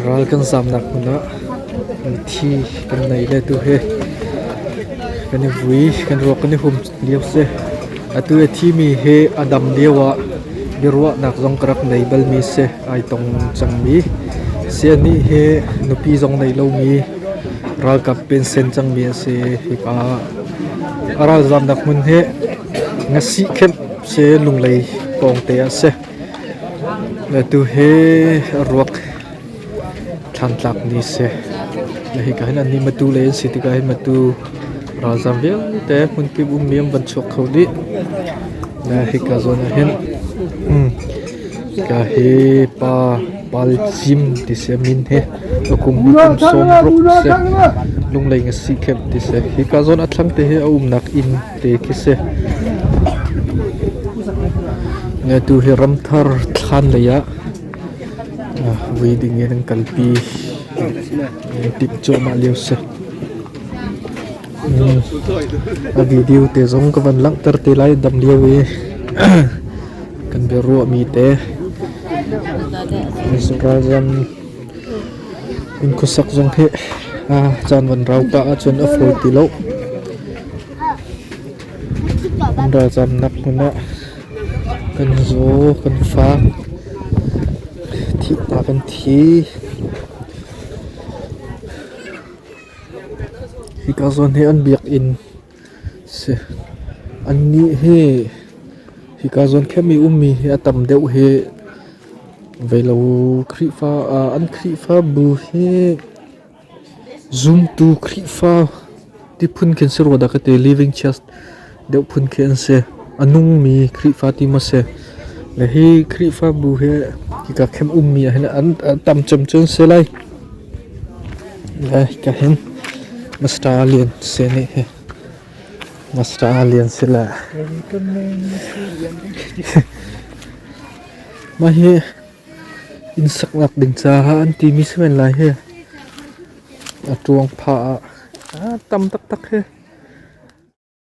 Ral kan zamnak hmun ah mithi kan nei le tu he kan i vui kan ruak kan i hum lio si. Atu i thimi he a dam lio ah biaruahnak zong ka rak nei balmi si ai tong cangmi siani he nupi zong nei lomi ralkap pen sen cangmi a si hika a ralzamnak hmun he Ngasih khenh seh Lunglei pawngte ah seh. Tu hi ruak thlangtlak ni seh. Hika hin an ni matu lei an si tikah hin matu ralzam vialte hmunpi ummi an van chuak kho dih. Hika zawn ah hin hika hi pa pali cim ti seh min hi akum kum sawm ruk seh Lunglei ngasih khenh ti seh. Hika zawn a thlangte hi a umnak inn Ngaknu hi ramthar thlan lei ah vui ding in an kalpi. An timh cuahmah lio si. A video te zong ka van langhter te lai dam lio i kan bia ruah mi te Ralzam Kan khuasak zong hi caan van rau pah ahcun a fawi ti lo. Kan ralzamnak hmun ah kan zaw, kan fak, thihna kan thi. Hika zawn hi an biak inn Annih hi hika zuankhem i ummi hi a tam deuh hi veilo Khrihfa ah an Khrihfabu hi zumtu Khrihfa ti phun khi an si rua dah ka ti. Living Church deuh phun khi an si. A nungmi Khrihfa ti maw si. Le hi Khrihfabu hi hika khem ummi ah hin an tam cemcem an si lai. Le ka hin Master Lian Si nih hi Master Lian Si le mah hi inn saknak ding caah an timi si men lai hi a ṭuang phah ah a tam taktak hi.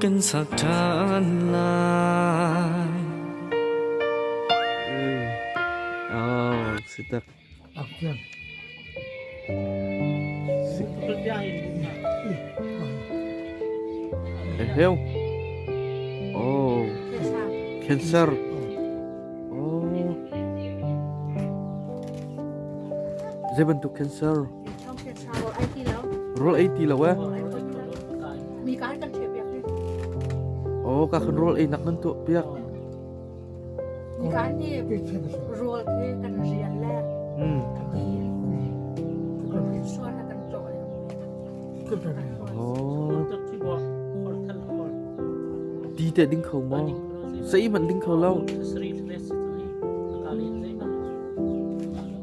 kan sak ṭhan lai. Oh, si tak. Inhale. Oh, cancer. Oh. Zei bantuk cancer? Rul ei ti lo eh. Oh, ka kan rul ei nak nan tu piak. Nikan ni rul ke kan rial le. Hmm. Suan na kan to le. Oh. Ti te ding khau mo. Sei man ding khau lo.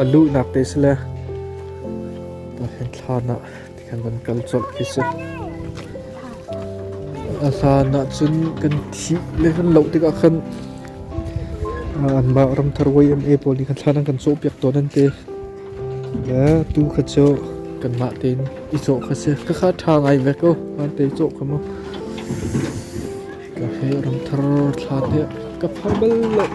a luhnak te si le hlan ah ti khan kan kal colh khi si a hlan ah cun kan thih le kan loh tikah khan anmah ramthar YMA pawl nih khan thlan an kan cawhpiak tawn an te le tu kha cu kanmah tein i cawh kha si ka kha ṭha ngai ve ko an te cawh kha mu Ka hmul rang thar thla tiah ka phar bal lo.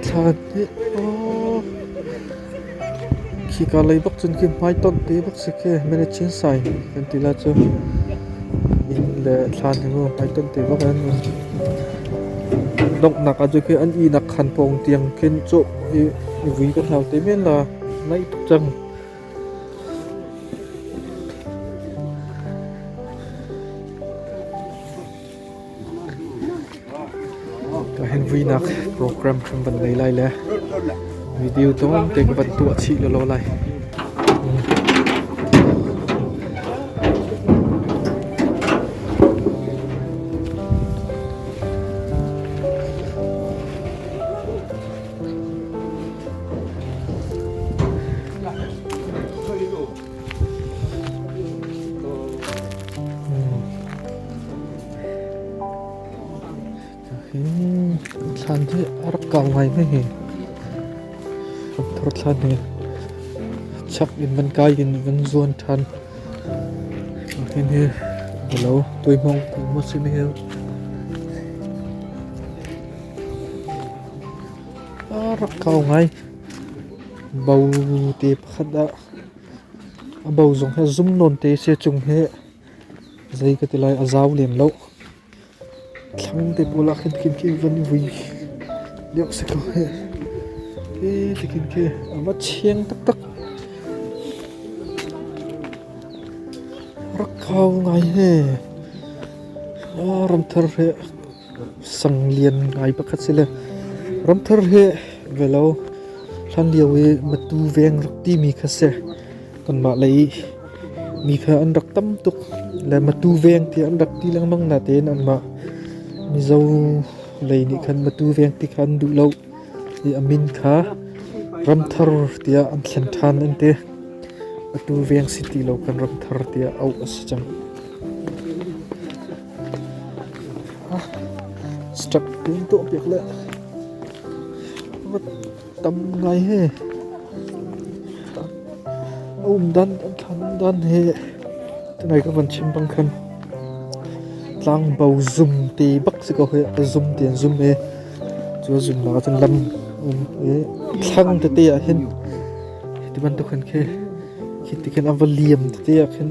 Thlan hi aw. Khika lei bak cun khi hmaitonh te bak si khi mene chin sai kan ti la cu. Inn le thlan hi mu hmaitonh te bak an nun. Donghnak aju khi an inak khan pawng tiang khin cuk i vui kan hlau te men la. Nai tuk cang. Kan vuinak program kan van nei lai le video tong te ka van tuah chi lo lo lai. thlan hi a rak kau ngai mai hi thor thlan hi chak in van kai in van zuan than hin hi lo tui mong ti mo sin hi Rak kau ngai. Bo te pakhat ah, a bo zong hi a zum nawn te a si chung hi, zei ka ti lai, a zau lem loh. Thlang te pawl ah khin khin khi van i vui deuh si ko hih. Hi ti khin khi a va chiang taktak. Rak kau ngai he. Ram thar hi. sang lian ngai pakhat si le ramthar he ve lo hlan lio i matu veng rak timi kha si kanmah lei mi kha an rak tam tuk le matu veng ti an rak ti lengmang na tein anmah mizo lei nih khan matu veng ti khan duh lo i amin kha ramthar tiah an thlen ṭhan an ti atu veng si ti lo kan ramthar tiah auh a si cang Step pin tuah piak le tam ngai he um dan an thlan dan he tangai ka van chim bang khan tlang bo zum ti bak si ko he a zum ti an zum he chu zum la cun lam um e thlang tete ah hin ti bantuk khan khe khi ti khan a va liam tete ah khin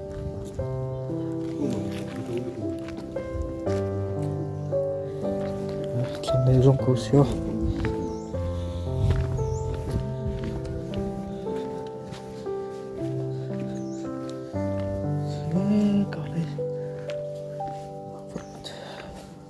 Thlanei zong ko si oh.